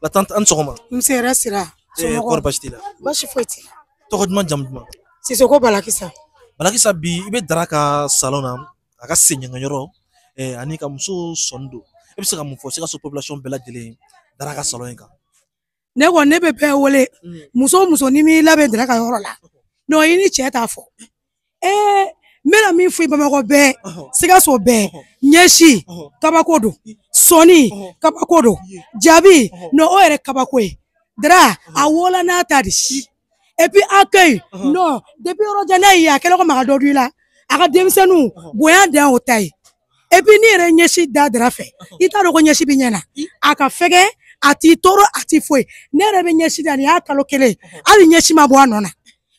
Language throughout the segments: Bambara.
La tante a ni sɔgɔma. Nse hɛrɛ sira. Ee kɔri basi t'i la. Basi foyi t'i la. Tɔgɔ duman jamu duman. Sisoko Balakisa. Balakisa bi i bɛ dara ka salon na a ka senɲɛgɛnyɔrɔ ɛɛ ani ka muso sɔnni don e bɛ se ka mun fɔ Sikaso population bɛɛ lajɛlen dara ka salon in kan. Ne kɔni ne bɛ bɛɛ wele muso o muso n'i m'i labɛn dara ka yɔrɔ la non i ni cɛ t'a fɔ. ee n bɛna min f'i bamakɔ bɛɛ sikaso bɛɛ ɲɛsi kabako don sɔni kabako don jabi nɔ o yɛrɛ kabako ye dara a wolola n'a ta de si et puis accueil non depuis yɔrɔ jan n'a ye a kɛlɛ ko maga dɔ d'i la a ka denmisɛnninw bonya dan o ta ye epi ne yɛrɛ ɲɛsi da dara fɛ i t'a dɔn ko ɲɛsi b'i ɲɛ na a ka fɛgɛ a t'i tɔɔrɔ a t'i foyi ne yɛrɛ bɛ ɲɛsi da nin y'a kalo kelen hali ɲɛsi ma bɔ a nɔ na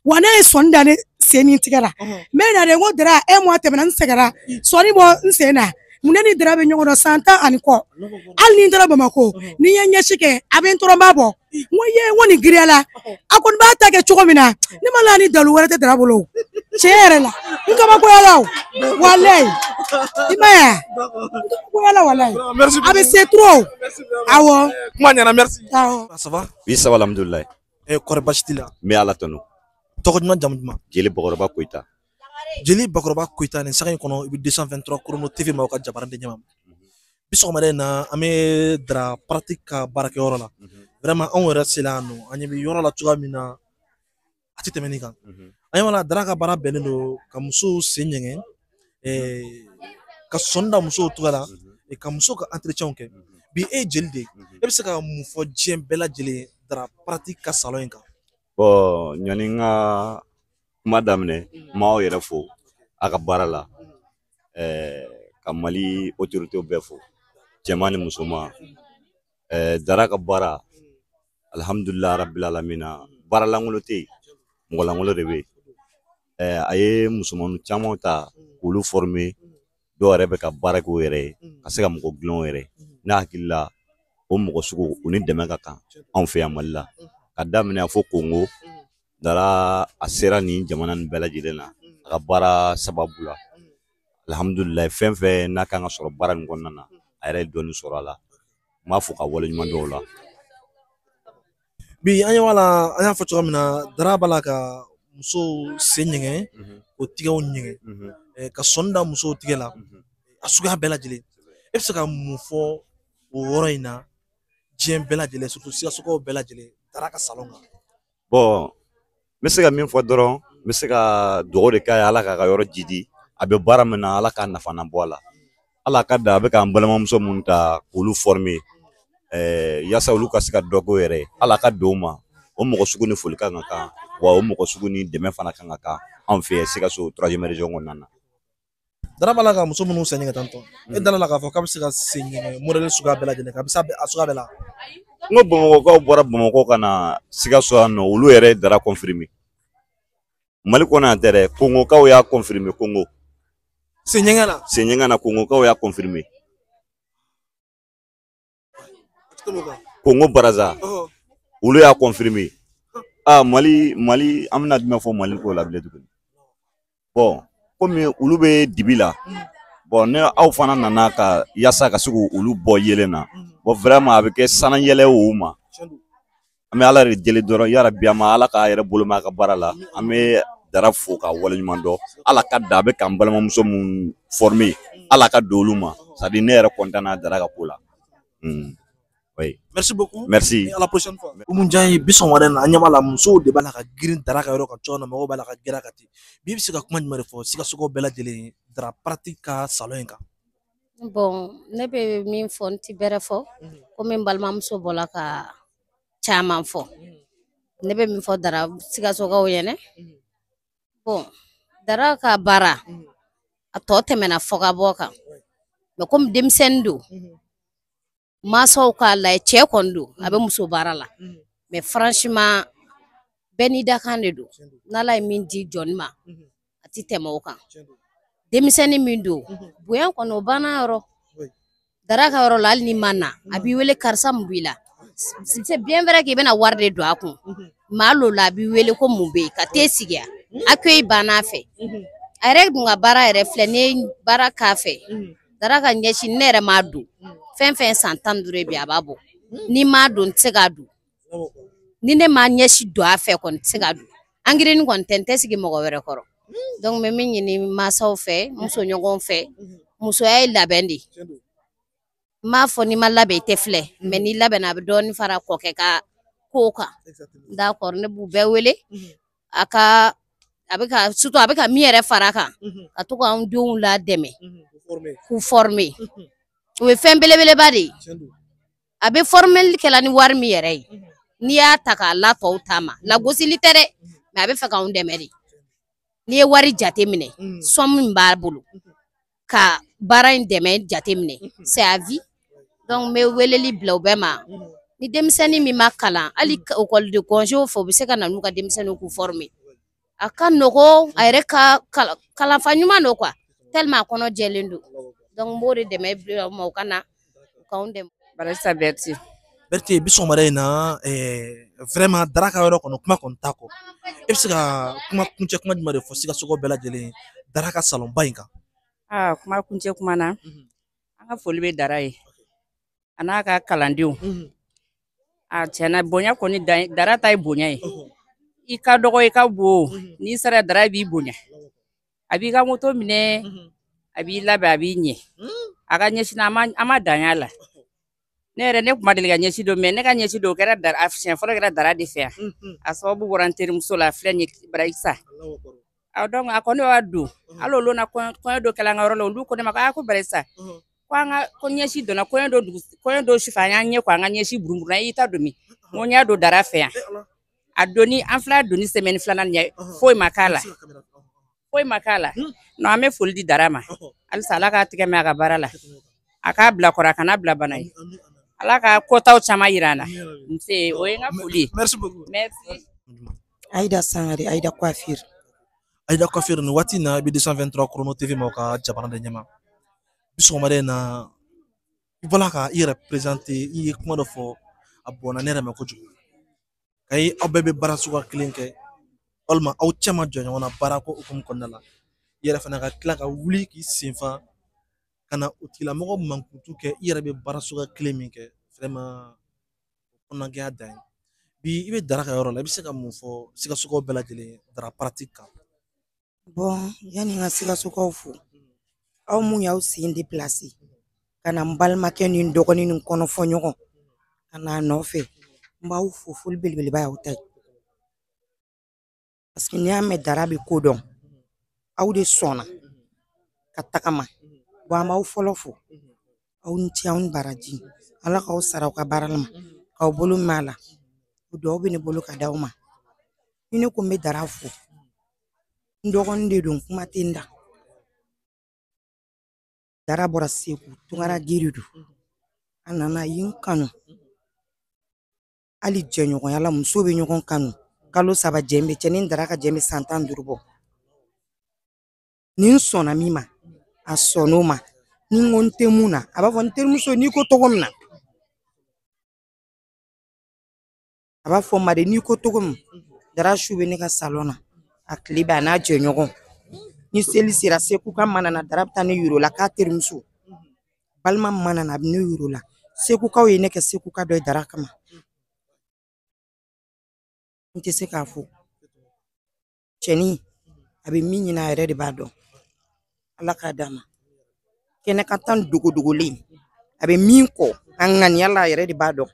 wa ne ye sɔnni da ne sen ni tigɛ la n bɛ na de n ko dara e mɔ tɛmɛna n sɛgɛra sɔnni bɔ n sen na mun ne ni dara bɛ ɲɔgɔn dɔn san tan ani kɔ hali ni n taara bamakɔ ni n ye ɲɛsi kɛ a bɛ n tɔɔrɔ n b'a bɔ n ko yee n ko nin girinyala a kɔni b'a ta kɛ cogo min na ne ma la ni dalilu wɛrɛ tɛ dara bolo o tiɲɛ yɛrɛ la n kabakoyala o walayi i ma ye wa n kabakoyala walayi Merci a bɛ beaucoup. c'est trop awɔ Kuma ɲɛna merci. awɔ. Ça va? oui ça va alhamdulilayi Eh, kɔri basi t'i la. n bɛ ala tanu Tɔgɔ duman jamu duman. jeli bakɔrɔba koyita jeli bakɔrɔba koyita nin sanga in kɔnɔ i bɛ dɛsɛ fɛn dɔrɔn koromo tɛ ma ka jabarani ɲɛ ma bi sɔgɔmada in na an bɛ dara parati ka baarakɛyɔrɔ la vraiment anw yɛrɛ sela yan non an ɲɛ bɛ yɔrɔ la cogoya min na a tɛ tɛmɛ nin kan an ɲɛ b'a la dara ka baara bɛnnen don ka musow sen ɲɛgɛn ka sɔnni da musow tɔgɔ la ka muso ka entretien kɛ bi e ye jeli de ye e bɛ se ka mun fɔ diɲɛ bɛɛ lajɛlen dara parati ka salon in kan bon yanni n ka kuma daminɛ n b'aw yɛrɛ fo a ka baara la ka mali otoritew bɛɛ fo cɛman ni musoman dara ka baara alhamdulila rabili alamina baara lankolon tɛ yen mɔgɔ lankolon de bɛ yen a ye musomannin caman ta k'olu fɔrime dɔw yɛrɛ bɛ ka baara k'u yɛrɛ ye ka se ka mɔgɔ dilan yɛrɛ ne hakili la o mɔgɔ sugu u ni dɛmɛ ka kan anw fɛ yan mali la ka daminɛ fo kongo dara a sera nin jamana nin bɛɛ lajɛlen na a ka baara sababu la alihamudulilayi fɛn o fɛn n'a kan ka sɔrɔ baara nin kɔnɔna na a yɛrɛ ye dɔɔnin sɔrɔ a la n b'a fo ka waleɲuman dɔn a la bi an ye wala an y'a fɔ cogo min na dara b'a la ka musow sen ɲɛgɛn o tigɛw ɲɛgɛn ka sɔnni da musow tigɛ la a suguya bɛɛ lajɛlen e bɛ se ka mun fɔ o yɔrɔ in na diɲɛ bɛɛ lajɛlen sikasokaw bɛɛ lajɛlen dara ka salon kan bɔn n bɛ se ka min fɔ dɔrɔn n bɛ se ka dugawu de k'a ye ala k'a ka yɔrɔ jidi a bɛ baara min na ala k'a nafa na bɔ a la ala ka da a bɛ k'an balimamuso minnu ta k'olu fɔrime eh, yaasa olu ka se ka dɔ k'u yɛrɛ ye ala k'a d'u ma o mɔgɔ sugu ni foli kan ka kan wa o mɔgɔ sugu ni dɛmɛ fana kan ka kan anw fɛ sikaso troisième région kɔnɔna na dara b'a la ka muso minnu sen ɲɛgɛn tatu e dara a la k'a fɔ k'a bɛ se ka sen mɔdɛli suguya bɛɛ lajɛlen k'a bɛ se a suguya bɛɛ la n ko bamakɔkaw bɔra bamakɔ ka na sikaso yan nɔ olu yɛrɛ ye dara kɔnfirime mali kɔnɔ yan tɛ dɛ kongokaw y'a kɔnfirime kongo senɲɛgɛn na senɲɛgɛn na kongokaw y'a kɔnfirime kongo baraza olu y'a confirme ah mali mali an bɛna jumɛn fɔ mali ko la bilen tuguni bɔn komi olu bɛ dibi la bɔn ne aw fana nana ka yaasa ka se k'olu bɔ yeelen na bɔn vraiment a bɛ kɛ sannayɛlɛ u ma an bɛ ala de deli dɔrɔn yarabi an ma ala k'a yɛrɛ bolo ma ka baara la an bɛ dara fo ka waleɲuman dɔn ala ka da a bɛ k'an balimamuso minnu fɔrime ala k'a d'olu ma sadi ne yɛrɛ kɔntanna dara ka ko la hmm. merci beaucoup merci à la prochaine fois umu jan ye bi sɔngɔrɛ na an ɲɛ b'a la musow de b'a la ka girin dara ka yɔrɔ ka cɔn na mɔgɔw b'a la ka gɛrɛ ka ten bi bɛ se ka kuma jumɛn de fɔ sikasokaw bɛɛ lajɛlen dara pratique ka salon in kan bon ne bɛ min fɔ n ti bɛrɛ fɔ mhm. komi n balimamuso bɔla ka caman fɔ mhm. ne bɛ min fɔ dara sikasokaw ɲɛna mhm. bon dara ka baara a tɔ tɛmɛna fɔkabɔ kan mɛ komi denmisɛnnin don mansaw k'a lajɛ cɛ kɔni don a bɛ muso baara la mɛ franchement bɛɛ n'i dakan de don n'ala ye min di jɔni ma a tɛ tɛmɛ o kan denmisɛnnin min don bonya kɔni o banna yɔrɔ dara ka yɔrɔ la hali n'i ma na a b'i wele karisa mun b'i la c'est bien vrai k'i bɛna wari de don a kun mɛ hali o la a b'i wele ko mun bɛ yen ka t'e sigi a accueil banna a fɛ a yɛrɛ dun ka baara yɛrɛ filɛ ne ye baara k'a fɛ dara ka ɲɛsi ne yɛrɛ m'a don fɛn fɛn san tan ni duuru ye bi a b'a bɔ ni m'a don n tɛ se k'a don ni ne ma ɲɛsi don a fɛ kɔni n tɛ se k'a don angirini kɔni tɛ n tɛ sigi mɔgɔ wɛrɛ kɔrɔ donc n bɛ min ɲini mansaw fɛ muso ɲɔgɔn fɛ musoya ye labɛn de ye n m'a fɔ n'i ma labɛn i tɛ filɛ mɛ n'i labɛnna a bɛ dɔɔni fara kɔkɛ ka kow kan d'accord ne b'u bɛɛ wele a ka a bɛ ka surtout a bɛ ka min yɛrɛ fara a kan ka to k'an denw ladɛmɛ k'u fɔrime o ye fɛn belebeleba de ye a bɛ fɔrimeli kɛla ni wari min yɛrɛ ye n'i y'a ta k'a la tɔw ta ma lagosili tɛ dɛ mɛ a bɛ fɛ k'anw dɛmɛ de n'i ye wari jate minɛ sɔn min b'a bolo ka baara in dɛmɛ jateminɛ mhm. c'est à vie donc n bɛ weleli bila u bɛɛ ma mhm. ni denmisɛnnin min ma kalan hali école de congé fɛ u bɛ se ka na n'u ka denmisɛnninw k'u former a ka nɔgɔn a yɛrɛ ka kalanfa ɲuman don quoi tellement a kɔnɔ jɛlen don donc n b'o de dɛmɛ bila u ma u ka na k'anw dɛmɛ barasa bɛrɛte bɛrɛte bi sɔgɔmada in na vraiment dara ka yɔrɔ kɔnɔ kuma kɔni t'a kɔ e bɛ se ka kuma kuncɛ kuma jumɛn de fɔ sikasokaw bɛɛ lajɛlen dara ka salonba in kan aa kuma kuncɛ kuma na mhm. an ka foli bɛ dara ye a n'a ka kalandenw mhm. a tiɲɛ na bonya kɔni dara ta ye bonya ye i ka dɔgɔ i ka bon n'i sera dara b'i bonya a b'i ka moto minɛ a b'i labɛn a b'i ɲɛ a ka ɲɛsi an ma dan y'a la ne yɛrɛ ne tun ma deli ka ɲɛsi don mais ne ka ɲɛsi don kɛra dara siɲɛ fɔlɔ kɛra dara de fɛ yan a sababu bɔra n terimuso la filɛ ni barasa a dɔn a ko ne y'a don hali olu na kɔɲɔ don kalan yɔrɔ la olu ko ne ma ko ko barasa ko an ka ko ɲɛsi donna kɔɲɔ don kɔɲɔ don su fɛ an y'an ɲɛ ko an ka ɲɛsi buruburu y'i ta don min ko n y'a don dara fɛ yan a donni an fila donni semaine filanan ɲɛ foyi ma k'a la foyi ma k'a la non an bɛ foli di dara ma halisa ala k'a tigɛ mɛn a ka baara la a k'a bila kɔrɔ a kana bila bana ye ala ka kɔtaw caman yira an na nse o ye n ka foli ye merci beaucoup merci ayida sangare ayida coiffure ayida coiffure nin waati in na i bɛ 223 chrono tv ma o ka jamana de ɲɛma bi sɔgɔmada in na i bɔla ka i yɛrɛ présenter i ye kuma dɔ fɔ a bɛnna ne yɛrɛ ma kojugu ka ye aw bɛɛ bɛ baara suguya kelen kɛ vraiment aw cɛ ma jɔ ɲɔgɔn na baara ko hukumu kɔnɔna la i yɛrɛ fana ka tila ka wuli k'i senfa ka na o tigilamɔgɔ mankutu kɛ i yɛrɛ bɛ baara suguya kelen min kɛ vraiment kɔnɔnagɛya dan ye bi i bɛ dara ka yɔrɔ la i bɛ se ka mun fɔ sikasokaw bɛɛ lajɛlen dara parati kan Bɔn yanni n ka sikasokaw fo aw mun y'aw sen déplacer ka na n balimakɛ ni n dɔgɔnin ni n kɔnɔfɔɲɔgɔn ka n'a nɔfɛ n b'aw fo foli belebeleba y'aw ta ye parce que n'i y'a mɛn dara bɛ ko dɔn aw de sɔnna ka tagama bɔn an b'aw fɔlɔ fo aw ni ce aw ni baraji ala k'aw sara aw ka baara la k'aw bolo mɛn a la o dugawu bɛ ne bolo ka d'aw ma ni ne ko n bɛ dara fo n dɔgɔnin de don kuma tɛ n da dara bɔra segu tunkara giri don a nana ye n kanu hali jɛɲɔgɔnya la musow bɛ ɲɔgɔn kanu kalo saba jɛn bɛ cɛn n ni dara ka jɛn bɛ san tan duuru bɔ ni n sɔnna min ma a sɔnn'o ma ni n ko n tɛ mun na a b'a fɔ n terimuso n'i ko cogo min na a b'a fɔ mari n'i ko cogo min dara su bɛ ne ka salon na a tile bɛ a n'a jɛɲɔgɔn ni seli sera sekuka mana na dara bɛ taa ne yɔrɔ la k'a terimuso balima mana na a bɛ ne yɔrɔ la sekukaw ye ne kɛ sekuka dɔ ye dara kama n tɛ se k'a fɔ cɛni a bɛ min ɲini a yɛrɛ de b'a dɔn ala k'a d'a ma kɛnɛ kan ta ni dogodogolen a bɛ min kɔ a ŋaniya la a yɛrɛ de b'a dɔn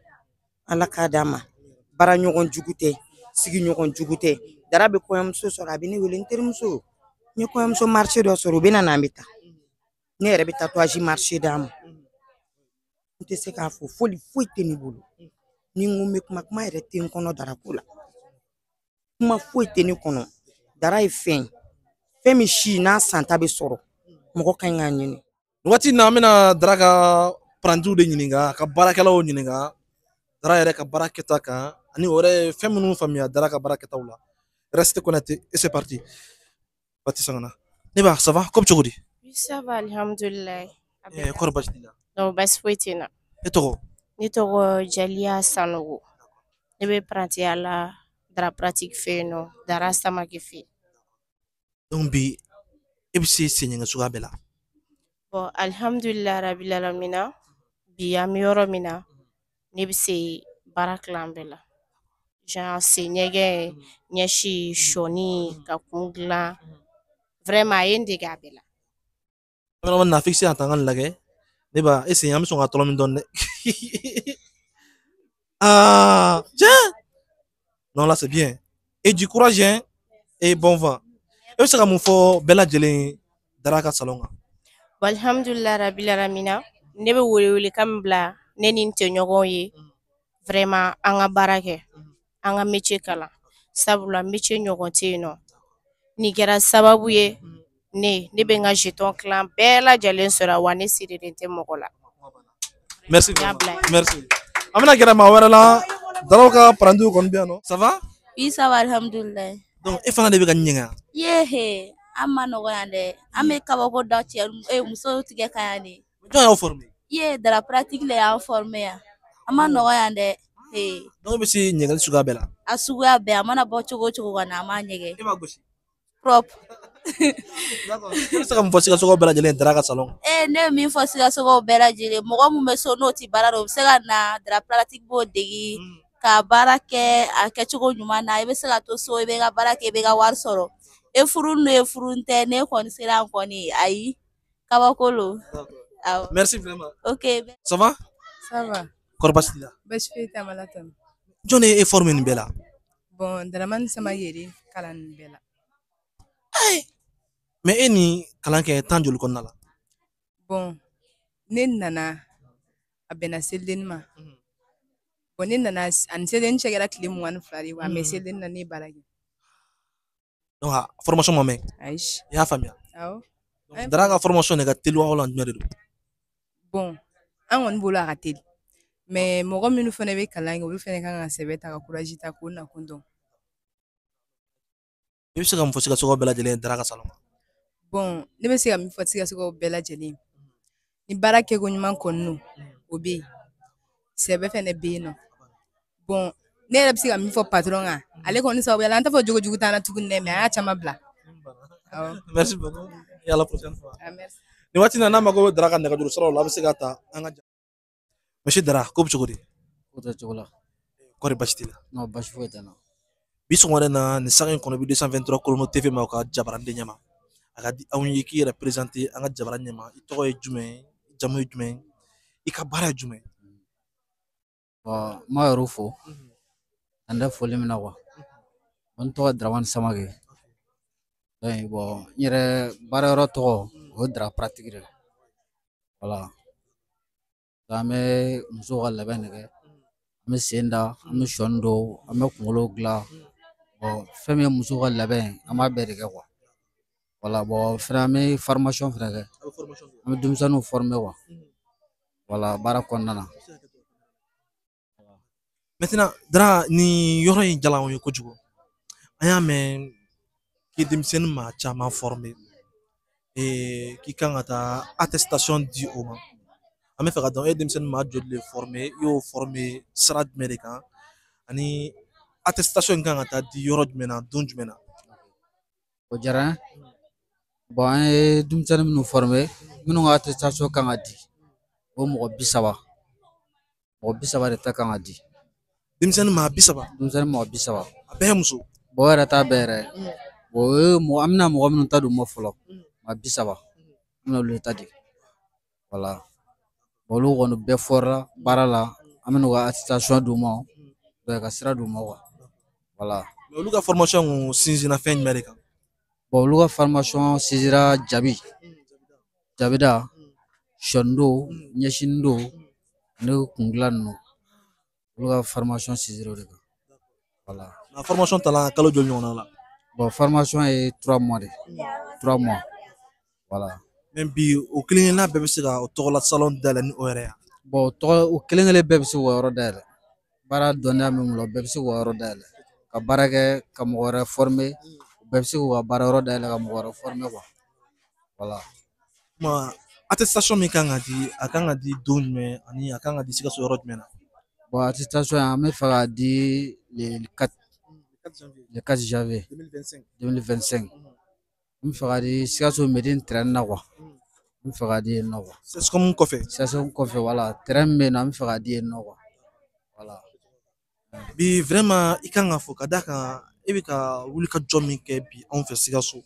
ala k'a d'a ma baaraɲɔgɔn jugu tɛ sigiɲɔgɔn jugu tɛ dara bɛ kɔɲɔmuso sɔrɔ a bɛ ne wele n terimuso n ye kɔɲɔmuso marise dɔ sɔrɔ u bɛ na n'an bɛ taa ne yɛrɛ bɛ tatuwazi marise d'a ma n tɛ se k'a fɔ foli foyi tɛ ne bolo ni n ko n bɛ kuma kuma yɛrɛ tɛ n kɔnɔ darako la kuma foyi tɛ ne kɔnɔ dara ye fɛn fɛn min si n'a santa bɛ sɔrɔ mɔgɔ ka ɲi k'a ɲini o waati na an bɛna dara ka parantiw de ɲininka a ka baarakɛlaw ɲininka dara yɛrɛ ka baara kɛta kan ani o yɛrɛ ye fɛn minnu faamuya dara ka baara kɛtaw la restez connectés et c'est parti Bati Sangana ne b'a ça va kow bɛ cogo di oui ça va alhamdulilayi eh, kɔrɔ basi t'i la donc basi foyi tɛ n na e tɔgɔ ne tɔgɔ Jaliya Sanogo ne bɛ parantiya la dara pratique fɛ yen nɔ dara samake fɛ yen donc bi e bɛ se sen ɲɛgɛn suguya bɛɛ la bon alhamdulilayi rabilalamina bi an bɛ yɔrɔ min na ne bɛ se baara kilan bɛɛ la yan sen ɲɛgɛn ɲɛsi sɔɔni ka kun dilan vraiment a ye n dege a bɛɛ la vraiment na fixe a tan k'a lajɛ ne ba e sen an bɛ sɔn ka tɔlɔ min dɔn dɛ aa cɛ Non, là, c'est bien. Et du courage, hein, et bon vent. I bɛ se ka mun fɔ bɛɛ lajɛlen, Dara ka salon kan. Bon, alhamdulillah, rabilalamina. Ne bɛ welewelekan bila, ne ni tɔɲɔgɔn ye. Vraiment, an ka baara kɛ, an ka métier kalan. Sabula métier ɲɔgɔn tɛ yen nɔ. Nin kɛra sababu ye, ne ne bɛ n ka jetɔn kilan bɛɛ lajɛlen sɔrɔ wa ne sirilen tɛ mɔgɔ la merci merci an bɛna gɛrɛ maa wɛrɛ la dara ka parantiw kɔni bɛ yan nɔ ça va oui ça va alhamdulilayi donc e fana de bɛ ka ɲɛgɛn yehe an man nɔgɔ yan dɛ an bɛ kabako da cɛ eh, musow tigɛ kan yan dɛ jɔn y'aw former ye dara pratique le y'an former yan an man nɔgɔ yan dɛ donc e bɛ se ɲɛgɛli suguya bɛɛ la a suguya bɛɛ a mana bɔ cogo o cogo ka na an b'a ɲɛgɛn e b'a gosi Prop. I bɛ se ka mun fɔ sikasokaw bɛɛ lajɛlen ye dara ka salon kan? Ee ne bɛ min fɔ sikasokaw bɛɛ lajɛlen ye mɔgɔ min bɛ so n'o tɛ baara dɔn o bɛ se ka na dara pratique b'o degi ka baara kɛ a kɛcogo ɲuman na i bɛ se ka to so i bɛ ka baara kɛ i bɛ ka wari sɔrɔ e furulen lo e furulen tɛ ne kɔni sera an kɔni ayi kabako lo awɔ Merci vraiment. ok Ça va? Ça va, Kɔrɔ basi t'i la. basi foyi t'a la tɛmɛ. Jɔn de ye e former nin bɛɛ la? Bɔn daramani samakɛ de ye n kalan nin bɛɛ la mɛ e ye nin kalan kɛ temps joli kɔnɔna la bɔn ne nana a bɛnna seliden ma mhm. bɔn ne nana ani seliden cɛ kɛra tile mugan ni fila de wa mɛ mhm. seliden na ne baara kɛ donc a formation ma mɛn ayi i y'a faamuya awɔ Donc, dara ka formation de ka teli wala jumɛn de don bɔn an kɔni bolo a ka teli mɛ mɔgɔ minnu fana bɛ kalan kɛ olu fana kan ka sɛbɛ ta ka courage ta k'olu nakun dɔn i bɛ se ka mun fɔ sikasokaw bɛɛ lajɛlen ye dara ka salon kan bɔn ne bɛ se ka min fɔ sikasokaw bɛɛ lajɛlen ye. ni baara kɛko ɲuman kɔni don o bɛ yen sɛbɛ fɛnɛ bɛ yen nɔ bɔn ne yɛrɛ bɛ se ka min fɔ patɔrɔn kan ale kɔni sababuya la an t'a fɔ jogo jugu t'an na tuguni dɛ mɛ an y'a caman bila merci beaucoup et à la prochaine fois ah, nin waati na n'a mago bɛ dara ka nɛgɛjuru sira la a bɛ se k'a ta an ka Monsieur dara ko bɛ cogo di ko tɛ cogo la kɔri basi t'i la basi foyi tɛ n na bi sɔgɔmada na nin san in kɔnɔ bi sanfɛ dɔrɔn kolomo tɛ ma ka jabaranin ɲɛma a ka di anw ye k'i yɛrɛ présenter an ka jabara ɲɛma i tɔgɔ ye jumɛn jamu ye jumɛn i ka baara ye jumɛn n b'a yɛrɛ fo mhm. an da foli min na wa mhm. n tɔgɔ daramani samakɛ bɔn n yɛrɛ baara yɔrɔ tɔgɔ o ye dara pratique de la voilà An bɛ muso ka labɛnni kɛ an bɛ sen da an bɛ shɔni don an bɛ kunkolo dilan fɛn bɛ muso ka labɛn an b'a bɛɛ de kɛ quoi voilà fana an bɛ formation fana kɛ an bɛ denmisɛnninw former quoi voilà baara kɔnɔna na Maintenant, dara nin yɔrɔ in diyara an ye kojugu an y'a mɛn k'i denmisɛnnin maa caman former ee k'i kan ka taa attestation di o ma an bɛ fɛ k'a dɔn e denmisɛnnin maa joli de former i y'o former sira jumɛn de kan ani attestation in kan ka taa di yɔrɔ jumɛn na don jumɛn na o diyara n ye bɔn an ye denmisɛnnin minnu former minnu ka attestation kan ka di o mɔgɔ bi saba mɔgɔ bi saba de ta kan ka di denmisɛnnin maa bi saba denmisɛnnin mɔgɔ bi saba a bɛɛ ye muso bɔ yɛrɛ t'a bɛɛ yɛrɛ o ye mɔgɔ an bɛna mɔgɔ minnu ta d'u ma fɔlɔ maa bi saba an bɛna olu ta di voilà olu kɔni bɛɛ fɔra baara la an bɛna u ka attestation d'u ma ka sira d'u ma voilà olu ka formation kun sinsinna fɛn jumɛn de kan Bon olu ka formation sinsinna jabi jabida sɔnin don ɲɛsi don ni kundilan ninnu olu ka formation sinsinna o de kan voilà na formation talan kalo joli ɲɔgɔnna la bon formation ye trois mois de trois mois voilà mais bi o kelen kelenna bɛɛ bɛ se ka o tɔgɔ la salon dayɛlɛ ni o yɛrɛ ya bon donc o kelen kelen bɛɛ bɛ se k'o yɔrɔ dayɛlɛ baara dɔnniya min bolo bɛɛ bɛ se k'o yɔrɔ dayɛlɛ ka baara kɛ ka mɔgɔ wɛrɛ fɔrime bɛɛ bɛ se k'u ka baara yɔrɔ dayɛlɛ ka mɔgɔ wɛrɛ fɔrime quoi voilà kuma attestation min kan ka di a kan ka di don jumɛn ani a kan ka di sikaso yɔrɔ jumɛn na bon attestation an bɛ fɛ ka di le 4 le 4 janvier 2025 2025 n bɛ fɛ ka di sikaso medini terrain na quoi n bɛ fɛ ka di yen nɔ quoi sɛsikɔmu kɔfɛ sikaso kɔfɛ voilà terrain min bɛ yen nɔ n bɛ fɛ ka di yen nɔ quoi voilà bi vraiment i kan ka fo ka d'a kan e bɛ ka wuli ka jɔ min kɛ bi anw fɛ sikaso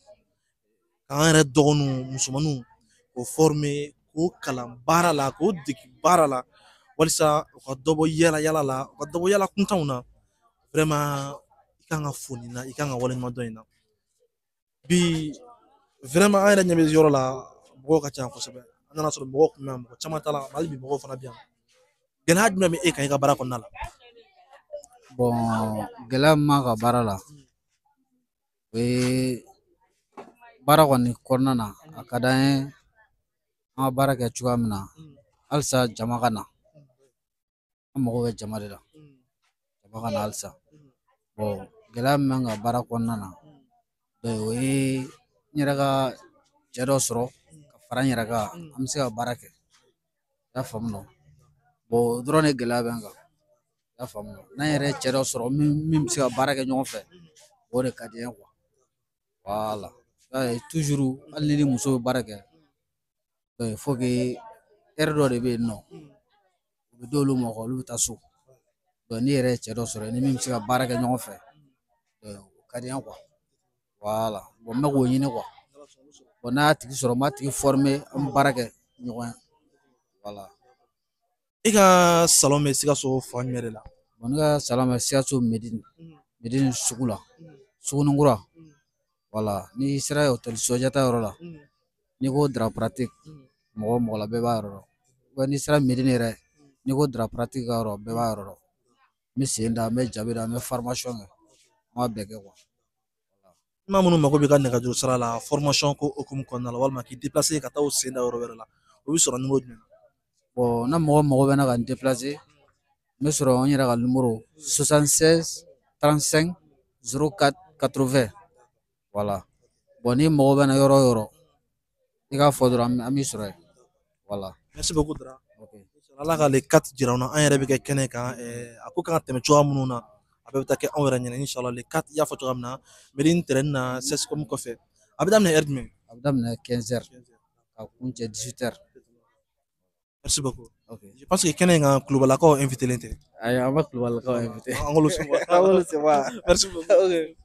k'an yɛrɛ dɔgɔninw musomaninw k'o fɔrime k'o kalan baara la k'o degi baara la walisa u ka dɔ bɔ yala yala la u ka dɔ bɔ yala kuntanw na vraiment i kan ka fo nin na i kan ka waleɲuman dɔn in na bi vraiment an yɛrɛ ɲɛ bɛ yɔrɔ la mɔgɔw ka ca kosɛbɛ an nana sɔrɔ mɔgɔw kun bɛ yan mɔgɔ caman taala hali bi mɔgɔw fana bɛ yan gɛlɛya jumɛn bɛ e kan i ka baara kɔnɔna la bon gɛlɛya min b'an ka baara la o ye baara kɔni kɔnɔna na a ka d'an ye an ka baara kɛ cogoya min na halisa jama ka na an mago bɛ jama de la jama ka na halisa gɛlɛya min b'an ka baara kɔnɔna na o ye n yɛrɛ ka cɛ dɔ sɔrɔ ka fara n yɛrɛ kan an bɛ se ka baara kɛ i y'a faamu o dɔrɔn de gɛlɛya bɛ n kan i y'a faamu n'an yɛrɛ cɛ dɔ sɔrɔ min bɛ se ka baara kɛ ɲɔgɔn fɛ o de ka di n ye voilà toujours hali ni muso bɛ baara kɛ faut que heure dɔ de bɛ yen nɔ u bɛ d'olu ma olu bɛ taa so ni n yɛrɛ ye cɛ dɔ sɔrɔ ni min bɛ se ka baara kɛ ɲɔgɔn fɛ o ka di n ye voilà bon n bɛ k'o ɲini quoi bon n'a tigi sɔrɔ n b'a tigi fɔrime an bɛ baara kɛ ɲɔgɔn fɛ voilà E ka salon bɛ Sikaso fan jumɛn de la? Bon ne ka salon bɛ Sikaso Medini, Medini sugu la, Suguninkura, voilà n'i sera hôtel Sunjata yɔrɔ la, n'i ko Dra pratique mɔgɔ o mɔgɔ la bɛɛ b'a yɔrɔ dɔn wa n'i sera Medini yɛrɛ n'i ko Dra pratique ka yɔrɔ bɛɛ b'a yɔrɔ dɔn, n bɛ sen da, n bɛ jabi da, n bɛ formation kɛ, n b'a bɛɛ kɛ quoi Ni maa minnu mago b'i ka nɛgɛjuru sira la formation ko hukumu kɔnɔna la walima k'i déplacer ka taa u sen da yɔrɔ wɛrɛ la u b'i sɔrɔ numéro jumɛn na bon na mɔgɔ mago bɛ n na ka n déplacer n bɛ sɔrɔ n yɛrɛ ka numéro 76 35 04 80 voilà bon ni mɔgɔ bɛ na yɔrɔ o yɔrɔ i k'a fɔ dɔrɔn an b'i sɔrɔ yen voilà merci beaucoup dara ala ka le 4 jira an na an yɛrɛ bɛ kɛ kɛnɛ kan a ko kan ka tɛmɛ cogoya minnu na a bɛɛ bɛ taa kɛ anw yɛrɛ ɲɛna inshallah le 4 i y'a fɔ cogoya min na mairie in terrain na CSCOM kɔfɛ a bɛ daminɛ heure jumɛn a bɛ daminɛ 15 heures ka kuncɛ 18 heures merci beaucoup okay. je pense que kɛnɛ in kan kulobalakaw invitelen tɛ ayi an ma kulobalakaw invité an k'olu se wa merci beaucoup okay.